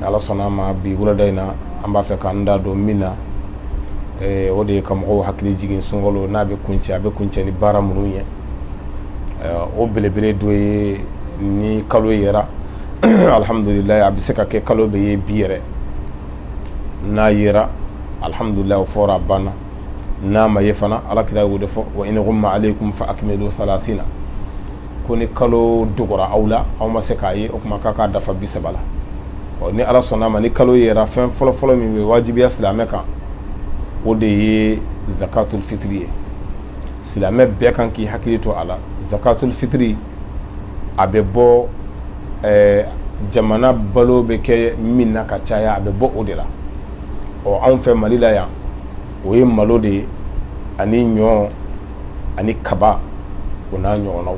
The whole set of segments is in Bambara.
ni ala sɔnna a ma bi wulada in na an b'a fɛ k'an da don min na o de ye ka mɔgɔw hakili jigin sunkalo n'a bɛ kuncɛ a bɛ kuncɛ ni baara minnu ye o belebele dɔ ye ni kalo yera alihamdulila a bɛ se ka kɛ kalo bɛ ye bi yɛrɛ n'a yera alihamdulila o fɔra a banna n'a ma ye fana ala kira y'o de fɔ wa in ghumma alaykum fa akmilu salasina ko ni kalo dogora aw la aw ma se k'a ye o kuma k'a k'a dafa bi saba la ɔ ni ala sɔnna a ma ni kalo yera fɛn fɔlɔfɔlɔ min bɛ wajibiya silamɛ kan o de ye zakatul fitiri ye silamɛ bɛɛ kan k'i hakili to a la zakatul fitiri a bɛ bɔ jamana balo bɛ kɛ min na ka caya a bɛ bɔ o de la ɔ anw fɛ mali la yan o ye malo de ani ɲɔ ani kaba o n'a ɲɔgɔnna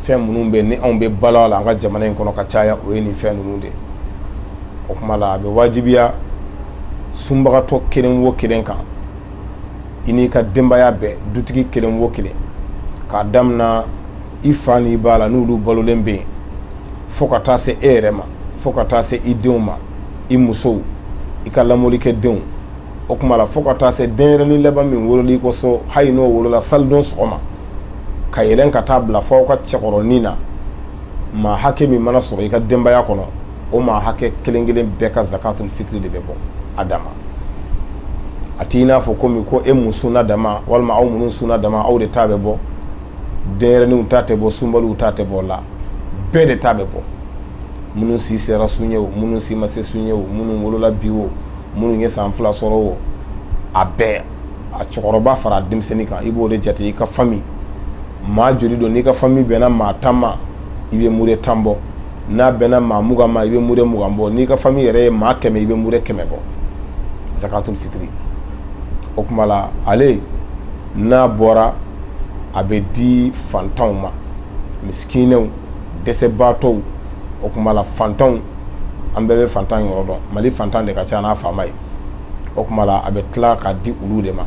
fɛn minnu bɛ ni anw bɛ balo a la an ka jamana in kɔnɔ ka caya o ye nin fɛn ninnu de o kuma la a bɛ wajibiya sunbagatɔ kelen wo kelen kan i n'i ka denbaya bɛɛ dutigi kelen wo kelen k'a daminɛ i fa n'i ba la n'olu balolen bɛ yen fo ka taa se e yɛrɛ ma fo ka taa se i denw ma i musow i ka lamɔlikɛ denw o kuma la fo ka taa se denyɛrɛnin laban min wolola i ka so hali n'o wolola salidon sɔgɔma ka yɛlɛn ka taa bila fo aw ka cɛkɔrɔnin na maa hakɛ min mana sɔrɔ i ka denbaya kɔnɔ o maa hakɛ kelen kelen bɛɛ ka zakatul fitiri de bɛ bɔ a dama a t'i n'a fɔ komi ko e min sunna dama walima aw minnu sunna dama aw de ta bɛ bɔ denyɛrɛninw ta tɛ bɔ sunbaliw ta tɛ bɔ o la bɛɛ de ta bɛ bɔ minnu si sera sun ye o minnu si ma se sun ye o minnu wolola bi o minnu ye san fila sɔrɔ o a bɛɛ a cɛkɔrɔba fara denmisɛnnin kan i b'o de jate i ka famille maa joli don n'i ka famille bɛnna maa tan ma i bɛ mure tan bɔ n'a bɛnna maa mugan ma i bɛ mure mugan bɔ n'i ka famille yɛrɛ ye maa kɛmɛ i bɛ mure kɛmɛ bɔ zakatul fitiri o kuma la ale n'a bɔra a bɛ di fantanw ma misikinɛw dɛsɛbaatɔw o kuma la fantanw an bɛɛ bɛ fantan yɔrɔ dɔn mali fantan de ka ca n'a faama ye o kuma la a bɛ tila k'a di olu de ma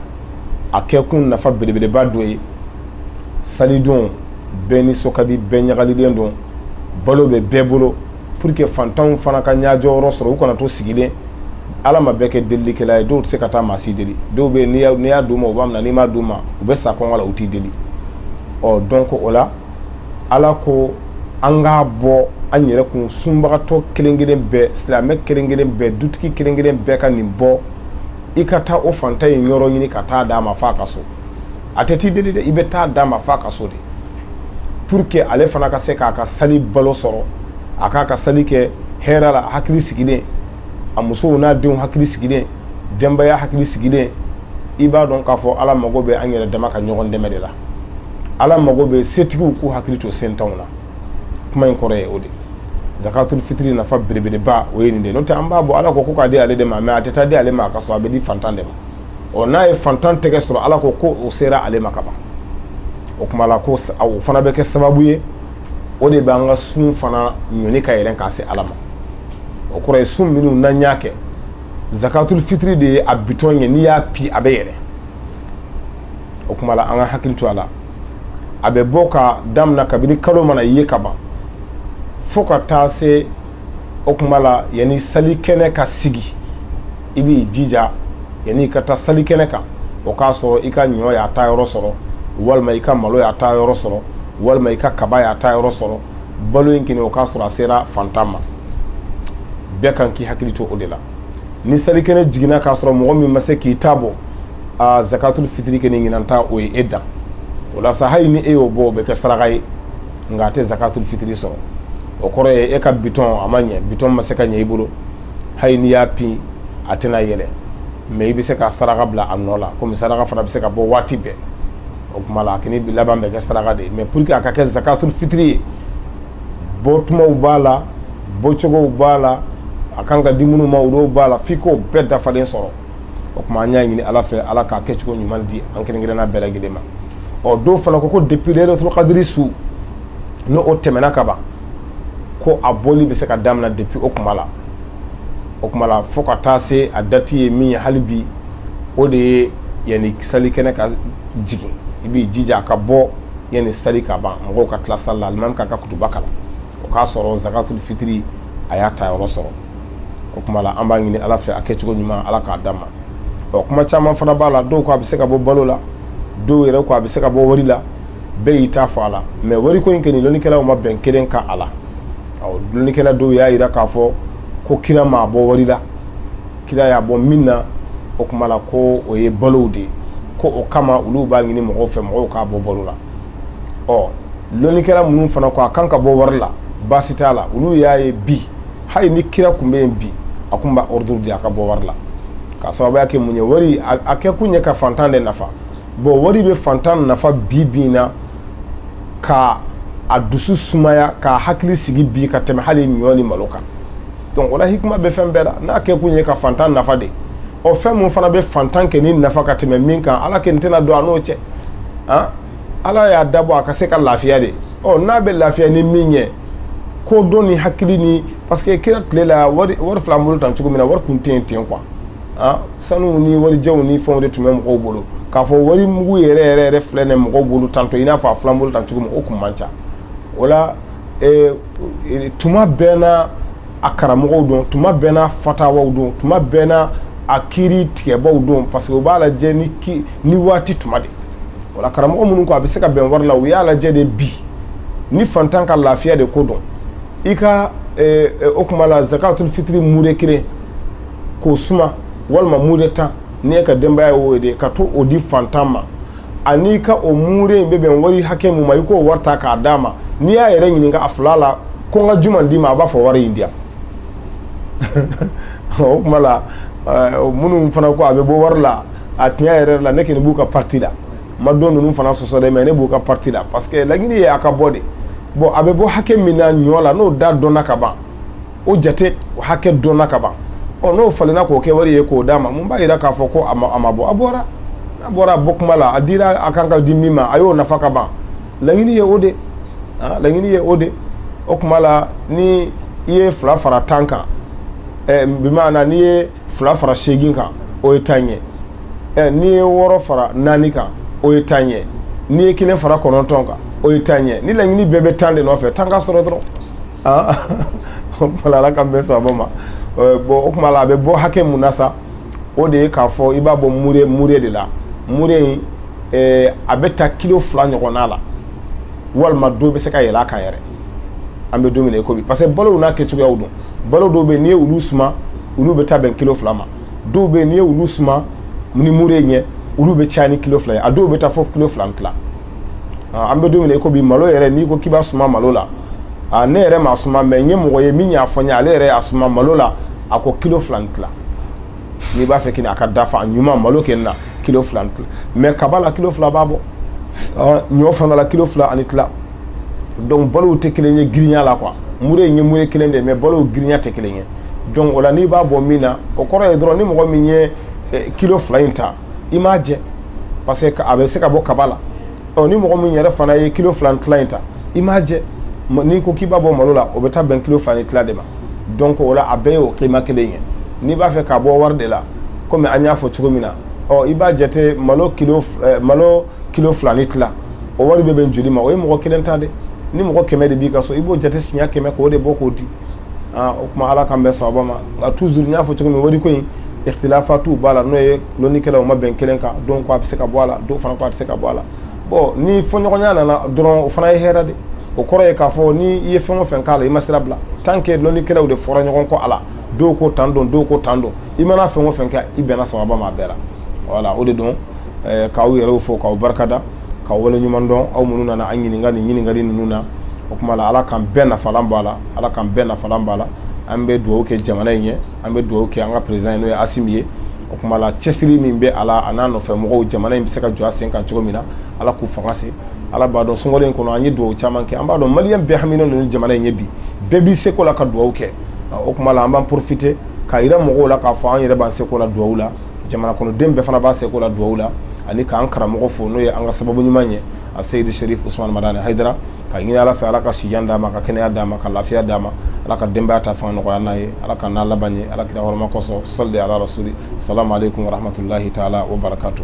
a kɛkun nafa belebeleba dɔ ye salidon bɛɛ nisɔn ka di bɛɛ ɲagalilen don balo bɛ bɛɛ bolo pour que fantanw fana ka ɲɛjɔ yɔrɔ sɔrɔ u kana to sigilen ala ma bɛɛ kɛ delilikɛla ye dɔw tɛ se ka taa maa si deli dɔw bɛ n'i y'a di u ma u b'a minɛ n'i m'a di u ma u bɛ sa kɔngɔ la u t'i deli ɔ donc o la ala ko an k'a bɔ an yɛrɛ kun sunbagatɔ kelenkelen bɛɛ silamɛ kelenkelen bɛɛ dutigi kelenkelen bɛɛ ka nin bɔ i ka taa o fantan in yɔrɔ ɲini ka taa d'a ma f'a ka so a tɛ t'i deli dɛ i bɛ taa d'a ma f'a ka so de pour que ale fana ka se k'a ka sali balo sɔrɔ a k'a ka sali kɛ hɛrɛ la hakili sigilen a musow n'a denw hakili sigilen denbaya hakili sigilen i b'a dɔn k'a fɔ ala mago bɛ an yɛrɛ dama ka ɲɔgɔn dɛmɛ de la ala mago bɛ setigiw k'u hakili to sentanw na kuma in kɔrɔ ye o de zakatul fitiri nafa belebeleba o ye nin de n'o tɛ an b'a bɔ ala ko k'a di ale de ma mais a tɛ taa di ale ma k'a sɔrɔ a bɛ di fantan de ma ɔ n'a ye fantan tɛgɛ sɔrɔ ala ko ko o sera ale ma kaban o kuma la ko o fana bɛ kɛ sababu ye o de bɛ an ka sun fana ɲɔni ka yɛlɛ k'a se ala ma o kɔrɔ ye sun minnu n'an y'a kɛ zakatul fitiri de ye a bitɔn ye n'i y'a pi a bɛ yɛlɛ o kuma la an ka hakili to a la a bɛ bɔ ka daminɛ kabini kalo mana ye ka ban fo ka taa se o kuma la yanni sali kɛnɛ ka sigi i b'i jija yanni i ka taa sali kɛnɛ kan o k'a sɔrɔ i ka ɲɔ y'a ta yɔrɔ sɔrɔ walima i ka malo y'a ta yɔrɔ sɔrɔ walima i ka kaba y'a ta yɔrɔ sɔrɔ balo in kini o k'a sɔrɔ a sera fantan ma bɛɛ kan k'i hakili to o de la ni salikɛnɛ jiginna k'a sɔrɔ mɔgɔ min ma se k'i ta bɔ aaa zakatul fitiri kɔni ɲinan ta o ye e dan o la sa hali ni e y'o bɔ o bɛ kɛ saraka ye nka a tɛ zakatul fitiri sɔrɔ o kɔrɔ ye e ka bitɔn a ma ɲɛ bitɔn ma se ka ɲɛ i bolo hali n'i y'a pi a tɛna yɛlɛ mais i bɛ se ka saraka bila a nɔ la kɔmi saraka fana bɛ se ka bɔ waati bɛɛ o kuma la a kɔni laban bɛ kɛ saraka de ye mais pour que a ka kɛ zakatul fitiri ye bɔtumaw b'a la bɔcogow b'a la a kan ka di minnu ma olu b'a la f'i k'o bɛɛ dafalen sɔrɔ o kuma an y'a ɲini ala fɛ ala k'a kɛcogo ɲuman di an kelenkelenna bɛɛ lajɛlen ma ɔ dɔw fana ko ko depuis laylatul kadri su n'o tɛmɛna kaban ko a bɔli bɛ se ka daminɛ depuis o kuma la o kuma la fo ka taa se a dati ye min ye hali bi o de ye yanni sali kɛnɛ ka jigin i b'i jija a ka bɔ yanni sali ka ban mɔgɔw ka tila sali la alimami k'a ka kutuba kalan o k'a sɔrɔ zakatul fitiri a y'a ta yɔrɔ sɔrɔ o kuma la an b'a ɲini ala fɛ a kɛcogo ɲuman ala k'a d'an ma ɔ kuma caman fana b'a la dɔw ko a bɛ se ka bɔ balo la dɔw yɛrɛ ko a bɛ se ka bɔ wari la bɛɛ y'i ta fɔ a la mais wari ko in kɔni dɔnnikɛlaw ma bɛn kelen kan a la dɔnnikɛla dɔw y'a jira k'a fɔ ko kira m'a bɔ wari la kira y'a bɔ min na o kuma la ko o ye balo de ye ko o kama olu b'a ɲini mɔgɔw fɛ mɔgɔw k'a bɔ balo la dɔnnikɛla minnu fana ko a kan ka bɔ wari la baasi t'a la olu y'a ye bi hali ni kira tun bɛ yen bi a tun b'a ordre di a ka bɔ wari la ka sababuya kɛ mun ye wari a kɛ kun ye ka fantan de nafa bon wari bɛ fantan nafa bi bi in na ka a dusu sumaya k'a hakili sigi bi ka tɛmɛ hali ɲɔ ni malo kan donc o la hikima bɛ fɛn bɛɛ la n'a kɛ kun ye ka fantan nafa de ɔ fɛn min fana bɛ fantankɛ nin nafa ka tɛmɛ min kan ala kɔni tɛna don a n'o cɛ ah ala y'a dabɔ a ka se ka lafiya de ɔ n'a bɛ lafiya ni min ye k'o dɔn ni hakili ni parce que kira tile la wari filɛ an bolo tan cogo min na wari tun tɛ yen ten quoi sanu ni warijɛw ni fɛnw de tun bɛ mɔgɔw bolo k'a fɔ wari mugu yɛrɛ yɛrɛ yɛrɛ filɛ nin mɔgɔw bolo tan ɔ i n'a fɔ a filɛ an bolo tan cogo min o tun man ca o la tuma bɛɛ n'a a karamɔgɔw don tuma bɛɛ n'a fatawaw don tuma bɛɛ n'a a kiiri tigɛbaw don parce que u b'a lajɛ ni ki ni waati tuma de o la karamɔgɔ minnu ko a bɛ se ka bɛn wari la u y'a lajɛ de bi ni fantan ka lafiya de ko don i ka eh, eh, o kuma la zakatul fitiri mure kelen k'o suma walima mure tan ni e ka denbaya y'o ye de ka t'o di fantan ma ani ka o mure in bɛ bɛn wari hakɛ min ma i k'o wari ta k'a d'a ma n'i y'a yɛrɛ ɲininka a fila la ko n ka jumɛn d'i ma a b'a fɔ wari in di yan o kuma la minnu fana ko a bɛ bɔ wari la a tiɲɛ yɛrɛ la ne kɔni b'u ka parti la n ma dɔ ninnu fana sɔsɔ dɛ mais ne b'u ka parti la parce que laɲini ye a ka bɔ de bɔn a bɛ bɔ hakɛ min na ɲɔ la n'o da dɔnna ka ban o jate hakɛ dɔnna ka ban ɔ n'o falenna k'o kɛ wari ye k'o d'a ma mun b'a jira k'a fɔ ko a ma a ma bɔ a bɔra a bɔra a bɔ kuma la a dira a kan ka di min ma a y'o nafa ka ban laɲini ye o de ah, laɲini ye o de o kuma la ni i ye fila fara tan kan eh, bimaana n'i ye fila fara seegin kan o ye tan ye eh, n'i ye wɔɔrɔ fara naani kan o ye tan ye n'i ye kelen fara kɔnɔntɔn kan o ye tan ye ni laɲini bɛɛ bɛ tan de nɔfɛ tan ka sɔrɔ dɔrɔn o kuma la ala k'an bɛn sawabu ma bɔn o kuma la a bɛ bɔ hakɛ mun na sa o de ye k'a fɔ i b'a bɔ mure mure de la mure in a bɛ taa kilo fila ɲɔgɔn la walima dɔw bɛ se ka yɛlɛ a kan yɛrɛ an bɛ don min i ko bi parce que balow n'a kɛ cogoyaw don balo dɔw bɛ n'i ye olu suma olu bɛ taa bɛn kilo fila ma dɔw bɛ n'i ye olu suma ni mure ye olu bɛ caya ni kilo fila ye a dɔw bɛ taa fɔ kilo fila tila an bɛ don min i ko bi malo yɛrɛ n'i ko k'i b'a suma malo la ne yɛrɛ m'a suma mais n ye mɔgɔ ye min y'a fɔ n ye ale yɛrɛ y'a suma malo la a ko kilo fila tila n'i b'a fɛ a ka dafa a ɲuman malo kɛ na kilo fila mais kaba la kilo fila b'a bɔ ɲɔ fana la kilo fila ani tila donc balow tɛ kelen ye girinya la quoi mure ye ye mure ye kelen de mais balow girinya tɛ kelen ye donc o la n'i b'a bɔ min na o kɔrɔ ye dɔrɔn ni mɔgɔ min ye kilo fila in ta i m'a jɛ parce que a bɛ se ka bɔ kaba la ni mɔgɔ min yɛrɛ fana ye kilo fila ni tila in ta i m'a jɛ n'i ko k'i b'a bɔ malo la o bɛ taa bɛn kilo fila ni tila de ma donc o la a bɛɛ ye o kima kelen ye n'i b'a fɛ k'a bɔ wari de la kɔmi an y'a fɔ cogo min na i b'a jate malo kilo fila ni tila o wari bɛ bɛn joli ma o ye mɔgɔ kelen ta de ni mɔgɔ kɛmɛ de b'i ka so i b'o jate siɲɛ kɛmɛ k'o de bɔ k'o di o kuma ala k'an bɛn sababa ma nka toujours n y'a fɔ cogo min wari ko in ikhtilafatu b'a la n'o ye lɔnnikɛlaw ma bɛn kelen kan dɔw ko a bɛ se ka bɔ a la dɔw fana ko a tɛ se ka bɔ a la bon ni fɔɲɔgɔnya nana dɔrɔn o fana ye hɛrɛ de o kɔrɔ ye k'a fɔ ni i ye fɛn o fɛn k'a la i ma sira bila tant que lɔnnikɛlaw de fɔra ɲɔgɔn kɔ a la dɔw ko tan don dɔw ko tan don i mana fɛn o fɛn kɛ i bɛnna sababa ma a bɛɛ la voilà o de don k'aw yɛrɛ fo k'aw barika da ka wale ɲuman dɔn aw minnu nana an ɲininka ni ɲininkali ninnu na o kuma la ala k'an bɛɛ nafalan b'a la ala k'an bɛɛ nafalan b'a la an bɛ dugawu kɛ jamana in ye an bɛ dugawu kɛ an ka président n'o ye asimi ye o kuma la cɛsiri min bɛ a la a n'a nɔfɛ mɔgɔw jamana in bɛ se ka jɔ a sen kan cogo min na ala k'u fanga se ala b'a dɔn sunkalo in kɔnɔ an ye dugawu caman kɛ an b'a dɔn maliyɛn bɛɛ haminen don ni jamana in ye bi bɛɛ b'i seko la ka dugawu kɛ o kuma la an b'an porofite ka jira mɔgɔw la k'a fɔ an yɛrɛ b'an seko la dugawu la jamana kɔnɔdenw bɛɛ fana b'a seko la dugawu la ani k'an karamɔgɔ fo n'o ye an ka sababu ɲuman ye a seyidu serifu usumani madani hayidara ka ɲini ala fɛ ala ka sijan d'a ma ka kɛnɛya d'a ma ka lafiya d'a ma ala ka denbaya ta fanga nɔgɔya n'a ye ala k'an n'a laban ɲɛ ala kira hɔrɔma kɔsɔn sali ala rasuli salamu aleykum wa rahmatulahi taala wa barakatu